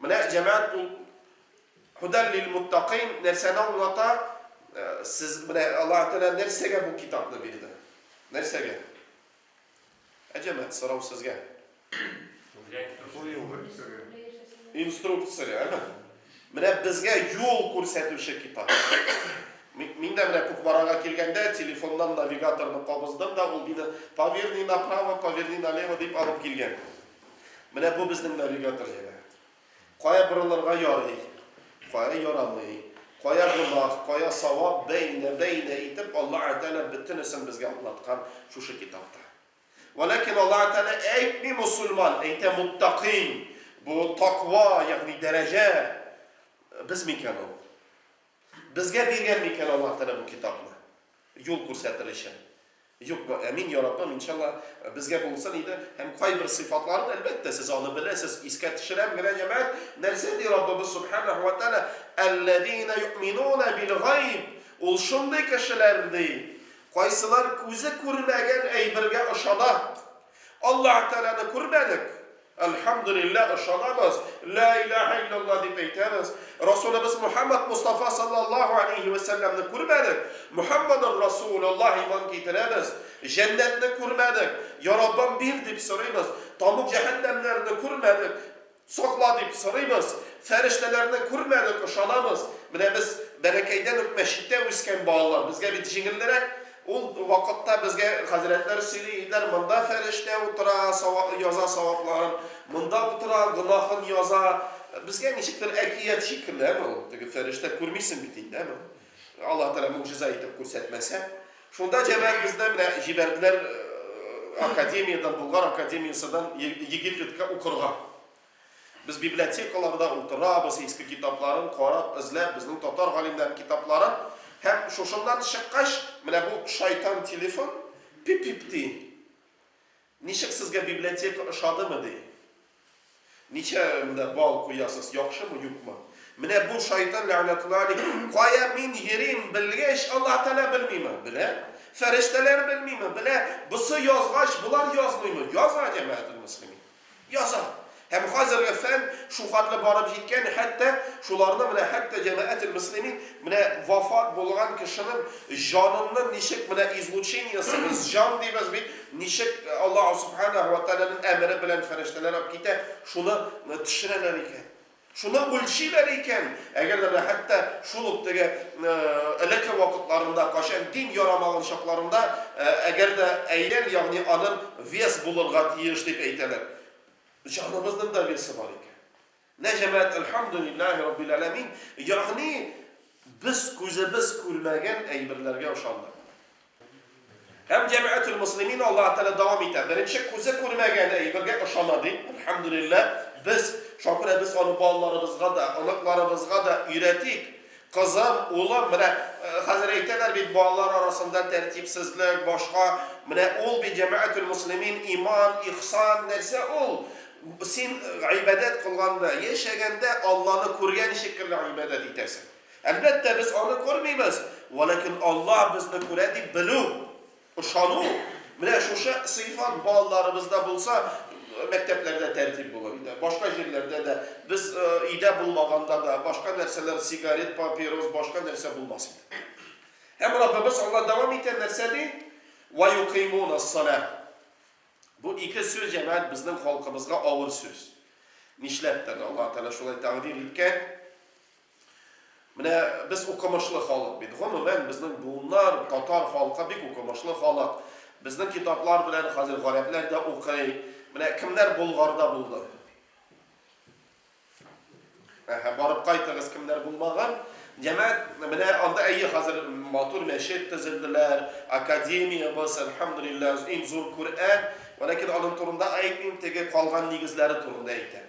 Менә, җәмәгать, ул Һудәл лил-муттакыйн нәрсәне аңлата? Сез, менә Аллаһы Тәгалә нәрсәгә бу китапны бирде? Нәрсәгә? Ә, җәмәгать, сорау сезгә. Инструкция, әме? Менә безгә юл күрсәтүче китап. Мин дә менә Кукмарага килгәндә телефоннан навигаторны кабыздым да, ул мине поверни направо, поверни налево дип алып килгән. Менә бу безнең навигатор җире. Кая борылырга ярый, кая ярамый, кая гөнаһ, кая савап, бәйнә-бәйнә итеп Аллаһ Тәгалә бөтенесен безгә аңлаткан шушы китапта. Вәләкин Аллаһ Тәгалә әйтми мусульман, әйтә муттакин. Бу таква, ягъни дәрәҗә без микән ул? Безгә биргән микән Аллаһ Тәгалә бу китапны? Юл күрсәтер өчен. Юк, бу ә мин яратмам, иншалла, безгә булсын иде, һәм кайбер сыйфатларын, әлбәттә, сез аны беләсез, искә төшерәм генә, җәмәгать, нәрсә ди Раббыбыз Сүбхәнәһү вә Тәгалә, Әлләзинә юъминуна бил-гайб, ул шундый кешеләр, ди, кайсылар күзе күрмәгән әйбергә ышана. Аллаһы Тәгаләне күрмәдек. Әлхәмдүлилләһ, ышанабыз, Ләә иләәһә илләллаһ дип әйтәбез. Расулыбыз Мухәммәд Мостафа салләллаһу әләйһи вә сәлләмне күрмәдек, Мухәммәдур Расулуллаһ иман китерәбез. Җәннәтне күрмәдек, Йа Раббым, бир дип сорыйбыз. Тамук җәһәннәмнәрне күрмәдек, сакла дип сорыйбыз. Фәрештәләрне күрмәдек, ышанабыз. Менә без бәләкәйдән үк мәчеттә үскән балалар, безгә бит җиңеллерәк. Ул вакытта безгә хәзрәтләр сөйли иделәр, монда фәрештә утыра, савап яза савапларын, монда утыра, гөнаһын яза. Безгә ничектер әкият шикелле, әме ул, теге фәрештә күрмисең бит инде, әме. Аллаһ Тәгалә могҗиза итеп күрсәтмәсә. Шунда җәмәгать безне менә җибәрделәр академиядән, Болгар академияседән Египетка укырга. Без библиотекаларда утырабыз, иске китапларын карап, эзләп, безнең татар галимнәренең китапларын, һәм шушыннан чыккач, менә бу шайтан телефон пип-пип ди. Ничек сезгә библиотека ошадымы ди. Ничә менә балл куясыз, яхшымы, юкмы? Менә бу шайтан ләгънәтулла алейһ, кая мин йөрим белгәч, Аллаһ Тәгалә белмиме? Белә. Фәрештәләр белмиме? Белә. Бусы язгач, болар язмыймы? Яза, җәмәгател мөслимин. Яза. Һәм хәзерге фән шулхәтле барып җиткән, хәтта шуларны менә хәтта җәмәгател-мөслимин, менә вафат булган кешенең җаныннын ничек менә излучениесе, без җан дибез бит, ничек Аллаһу Субханәһү вә Тәгаләнең әмере белән фәрештәләр алып китә, шуны төшерәләр икән. Шуны үлчиләр икән, әгәр дә менә хәтта шул ук теге элекке вакытларында, кайчан дин ярамаган чакларында, әгәр дә әйлән, ягъни аның вес булырга тиеш дип әйтәләр. Җаныбызның да весы бар икән. Менә җәмәгать, әлхәмдүлилләһи раббил әләмин, ягъни без күзебез күрмәгән әйберләргә ышандык. Һәм җәмәгател муслимин Аллаһ Тәгалә дәвам итә. Беренче күзе күрмәгән әйбергә ышана ди. Әлхәмдүлилләһ, без, шакирә без аны балаларыбызга да, оныкларыбызга да өйрәтик. Кызым, улым, менә хәзер әйтәләр бит балалар арасында тәртипсезлек, башка. Менә ул бит җәмәгател муслимин, иман, ихсан, нәрсә ул? Син гыйбадәт кылганда, яшәгәндә Алланы күргән шикелле гыйбадәт итәсең. Әлбәттә, без аны күрмибез, вәләкин Аллаһ безне күрә дип белү, ышану, менә шушы сыйфат балаларыбызда булса, мәктәпләрдә тәртип булыр иде. Башка җирләрдә дә, без өйдә булмаганда да, башка нәрсәләр, сигарет, папирос, башка нәрсә булмас иде. Һәм Раббыбыз Алла дәвам итә нәрсә ди? Ва юкыймуна сала. Бу ике сүз җәмәгать безнең халкыбызга авыр сүз. Нишләптер Алла Тәгалә шулай тәкъдир иткән. Менә без укымышлы халык бит. Гомумән, безнең буыннар, татар халкы бик укымышлы халык. Безнең китаплар белән хәзер гарәпләр дә укый. Менә кемнәр Болгарда булды? Әһә, барып кайтыгыз, кемнәр булмаган. Димәк, менә анда әйе хәзер матур мәчет төзелделәр, академия быз, әлхәмдулиллаһ, иң зур Күрән. Вәләкин аның турында әйтмим, теге калган нигезләре турында әйтәм.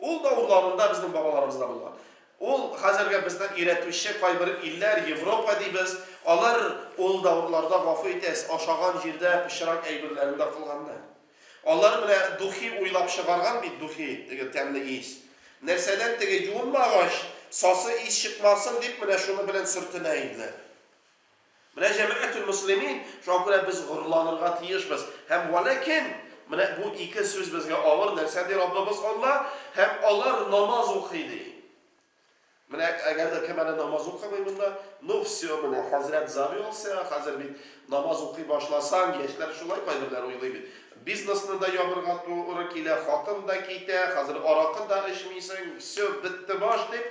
Ул да урлавында безнең бабаларыбызда булган. Ул хәзерге безнең өйрәтүче кайбер илләр, Европа дибез, алар ул да урларда гафу итәс, ашаган җирдә пычрак әйберләрен дә кылганнар. Алар менә духи уйлап чыгарган бит, духи, теге тәмле ис. Нәрсәдән теге юынмагач, сасы ис чыкмасын дип менә шуны белән сөртенә иделәр. Менә җәмәгатүл мөслимин, шуңа күрә без горурланырга тиешбез. Һәм вәләкин, менә бу ике сүз безгә авыр, нәрсә ди Раббыбыз Алла? Һәм алар намаз укый, ди. Менә әгәр дә кем әле намаз укымый монда, ну все, менә хәзрәт завелся, хәзер бит намаз укый башласаң, яшьләр шулай кайберләр уйлый бит. Бизнесны да ябырга туры килә, хатын да китә, хәзер аракы да эчмисең, все, бетте баш, дип,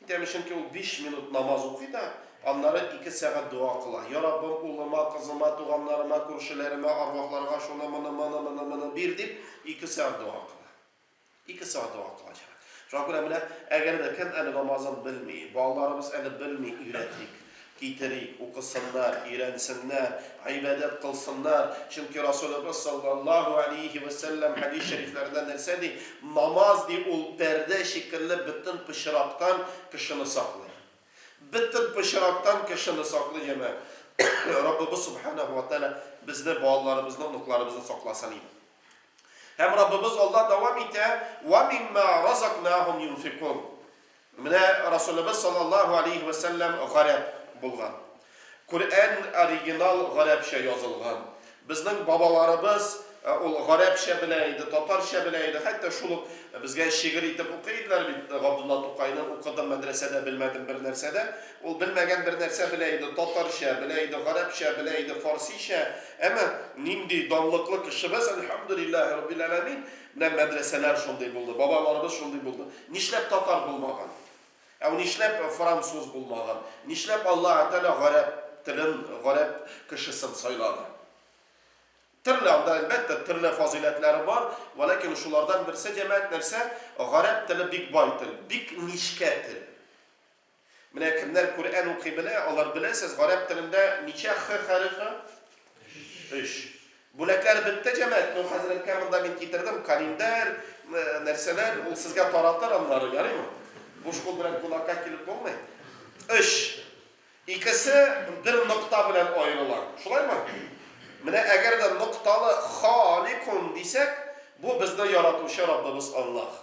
Итәме, чөнки ул биш минут намаз укый да, аннары ике сәгать дога кыла, Я Раббым, улыма, кызыма, туганнарыма, күршеләремә, арвахларга шуны, моны, моны, моны, моны бир, дип, ике сәгать дога кыла. Ике сәгать дога кыла, җәмәгать. Шуңа күрә менә, әгәр дә кем әле намазын белми, балаларыбыз әле белми, өйрәтик. Китерик, укысыннар, өйрәнсеннәр, гыйбадәт кылсыннар, чөнки Расулыбыз саллаллаһу галәйһи вә сәлләм хәдис шәрифләрендә нәрсә ди, Намаз, ди, ул пәрдә шикелле бөтен пычрактан кешене саклый. Бөтен пычрактан кешене саклый, җәмәгать. Раббыбыз Субханаһу ва Тәгалә безне, балаларыбызны, оныкларыбызны сакласын иде. Һәм Раббыбыз Аллаһ дәвам итә, Вә мимма разакнаһум юнфикун. Менә Расулыбыз саллаллаһу алейһи вә сәлләм гарәп булган. Коръән оригинал гарәпчә язылган. Безнең бабаларыбыз ул гарәпчә белә иде, татарча белә иде, хәтта шул ук безгә шигырь итеп укый иделәр бит, Габдулла Тукайны укыдым мәдрәсәдә, белмәдем бер нәрсә дә. Ул белмәгән бер нәрсә белә иде, татарча белә иде, гарәпчә белә иде, фарсичә. Әмма нинди данлыклы кешебез, әлхәмдүлилләһи раббил әләмин! Менә мәдрәсәләр шундый булды, бабаларыбыз шундый булды. Нишләп татар булмаган? Әу нишләп француз булмаган? Нишләп Аллаһы Тәгалә гарәп телен, гарәп кешесен сайлады? Төрле анда, әлбәттә, төрле фазыйләтләре бар, вәләкин шулардан берсе, җәмәгать, нәрсә? Гарәп теле бик бай тел, бик нечкә тел. Менә кемнәр Күрән укый белә, алар беләсез, гарәп телендә ничә х хәрефе? Өч. Бүләкләр бетте, җәмәгать. Ну, хәзрәткә монда мин китердем календарь, нәрсәләр, ул сезгә таратыр аннары, ярыймы? Буш кул белән кунакка килеп булмый. Өч. Икесе бер нокта белән аерыла. Шулаймы? Менә әгәр дә нокталы халикун дисәк, бу безне яратучы Раббыбыз Аллаһ.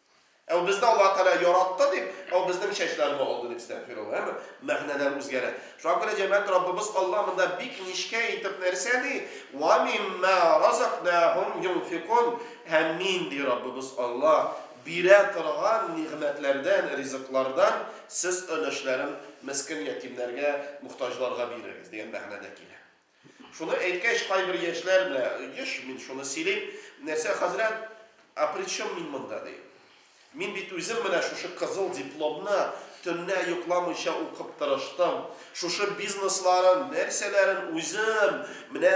Ә ул безне Аллаһ Тәгалә яратты дип, ә ул безнең чәчләрне алды дип стәгъфирулла, әмма мәгънәләр үзгәрә. Шуңа күрә җәмәгать Раббыбыз Аллаһ монда бик нечкә итеп нәрсә ди? Вә мимма разакнахум юнфикун, һәм мин, ди Раббыбыз Аллаһ, бирә торган нигъмәтләрдән, ризыклардан сез өлешләрен мескин-ятимнәргә, мохтаҗларга бирегез, дигән мәгънәдә килә. Шуны әйткәч, кайбер яшьләр менә, еш мин шуны сөйлим, нәрсә, хәзрәт, а при чем мин монда, ди. Мин бит үзем менә шушы кызыл дипломны төнлә йокламыйча укып тырыштым, шушы бизнесларын, нәрсәләрен үзем менә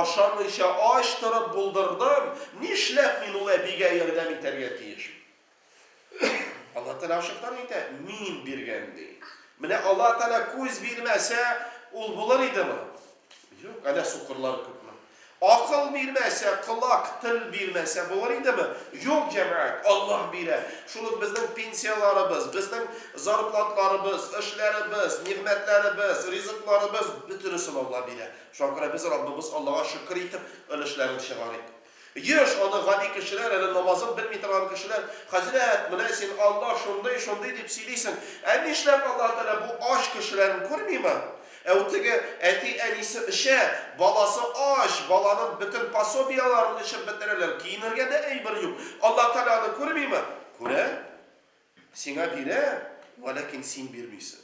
ашамыйча ач торып булдырдым, нишләп мин ул әбигә ярдәм итәргә тиеш? Алла Тәгалә ачыктан әйтә, мин биргән ди. Менә Алла Тәгалә күз бирмәсә, ул булыр идеме? Юк, әле сукырлар күпме. Акыл бирмәсә, колак, тел бирмәсә булыр идеме? Юк, җәмәгать, Алла бирә. Шул ук безнең пенсияләребез, безнең зарплатларыбыз, эшләребез, нигъмәтләребез, ризыкларыбыз бөтенесен Алла бирә. Шуңа күрә без Раббыбыз Аллага шөкер итеп, өлешләрен чыгарыйк. Еш аны гади кешеләр, әле намазын белми торган кешеләр, Хәзрәт, менә син, Аллаһ шундый, шундый дип сөйлисең, ә нишләп Аллаһ Тәгалә бу ач кешеләрен күрмиме? Әү теге әти-әнисе эчә, баласы ач, баланың бөтен пособияләрен эчеп бетерәләр, киенергә дә әйбер юк. Аллаһ Тәгалә аны күрмиме? Күрә. Сиңа бирә, вәләкин син бирмисең.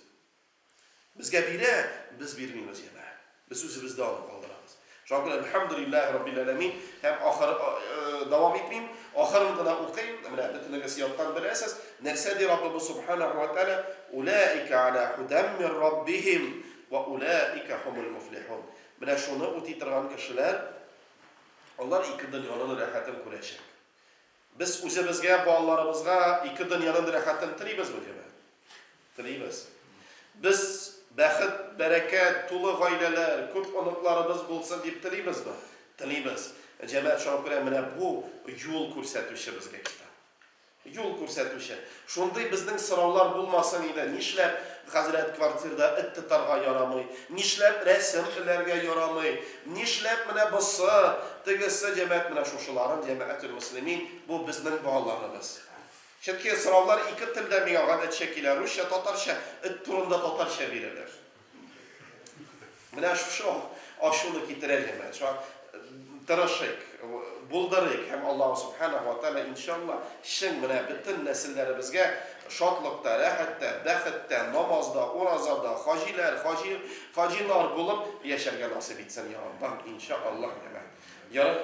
Безгә бирә, без бирмибез янә. Без үзебездә аны калдырабыз. Шуңа күрә Әлхәмдүлилләһи раббил әләмин һәм ахыр дәвам итмим, ахырын гына укыйм, менә бөтенегез яттан беләсез, нәрсә ди Раббыбыз Субханәһү вә тәгалә, Уләика ала һудәм мир Раббихим вә уләика хумул муфлихун. Менә шуны үти торган кешеләр, алар ике дөньяның рәхәтен күрәчәк. Без үзебезгә, балаларыбызга ике дөньяның рәхәтен телибезме, диме? Телибез. Без бәхет, бәрәкәт, тулы гаиләләр, күп оныкларыбыз булсын дип телибезме? Телибез. Җәмәгать, шуңа күрә менә бу юл күрсәтүче безгә китап. Юл күрсәтүче. Шундый безнең сораулар булмасын иде, нишләп, хәзрәт, квартирда эт тотарга ярамый, нишләп рәсем эләргә ярамый, нишләп менә босы, тегесе, димәк, менә шушыларын, җәмәгателмөслимин, бу безнең балаларыбыз. Чөнки сораулар ике телдә миңа гадәтчә килә, русча, татарча, эт турында татарча бирелер. Менә шушы ачуны китерәле менә. Шуңа тырышыйк, булдырыйк һәм Аллаһу субхана ва тәгалә иншалла чын менә бөтен нәселләребезгә шатлыкта, рәхәттә, бәхеттә, намазда, уразада, хаҗиләр, хаҗи, хаҗилар булып яшәргә насыйп итсен, я Аллаһ, иншалла. Ярар.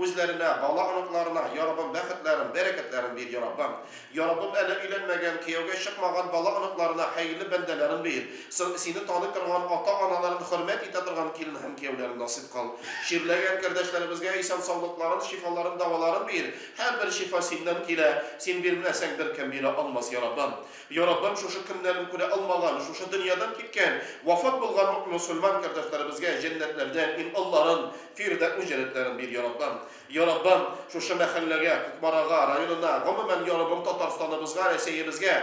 Үзләренә, бала-оныкларына, Йа Раббым, бәхетләрен, бәрәкәтләрен бир, Йа Раббым! Йа Раббым, әле өйләнмәгән, кияүгә чыкмаган бала-оныкларына хәерле бәндәләрен бир, соң Сине таный торган, ата-аналарын хөрмәт итә торган килен һәм кияүләрен насыйп кыл. Чирләгән кердәшләребезгә исән-саулыкларын, шифаларын, даваларын бир, һәрбер шифа Синнән килә, Син бирмәсәң, беркем бирә алмас, Йа Раббым! Яратам шушы көннәрен күрә алмаган, шушы дөньядан киткән, вафат булган мөэмин-мөселман кардәшләребезгә җәннәтләрдән ин Алларым, фирдәүс җәнәтләрен бир, Яраббым. Яраббым, шушы мәхәлләгә, Кукмарага, районына, гомумән, Яраббым, Татарстаныбызга, Рәсәебезгә,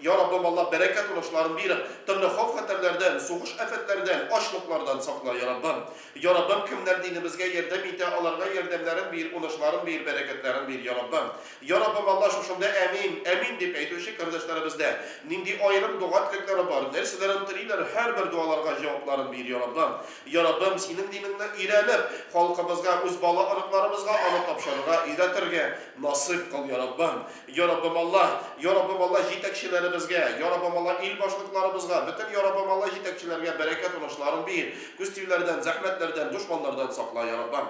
Яраббым, Аллаһ, бәрәкәт унышларын бир, төрле хауф-хәтәрләрдән, сугыш афәтләрдән, ачлыклардан сакла, Яраббым. Яраббым, кемнәр динебезгә ярдәм итә, аларга ярдәмнәрен бир, унышларын бир, бәрәкәтләрен бир, Яраббым. Йа Раббым Алла шушында Әмин, Әмин дип әйтүче кардәшләребездә нинди аерым дога теләкләре бар, нәрсәләрен телиләр, һәрбер дуаларга җавапларын бир, Йа Раббым. Йа Раббым, Синең динеңне өйрәнеп, халкыбызга, үз бала оныкларыбызга аны тапшырырга, өйрәтергә насыйп кыл, Йа Раббым. Йа Раббым Алла, Йа Раббым Алла җитәкчеләребезгә, Йа Раббым Алла ил башлыкларыбызга, бөтен Йа Раббым Алла җитәкчеләргә бәрәкәт унышларын бир, күз тиюләрдән, зәхмәтләрдән, дошманнардан сакла, Йа Раббым.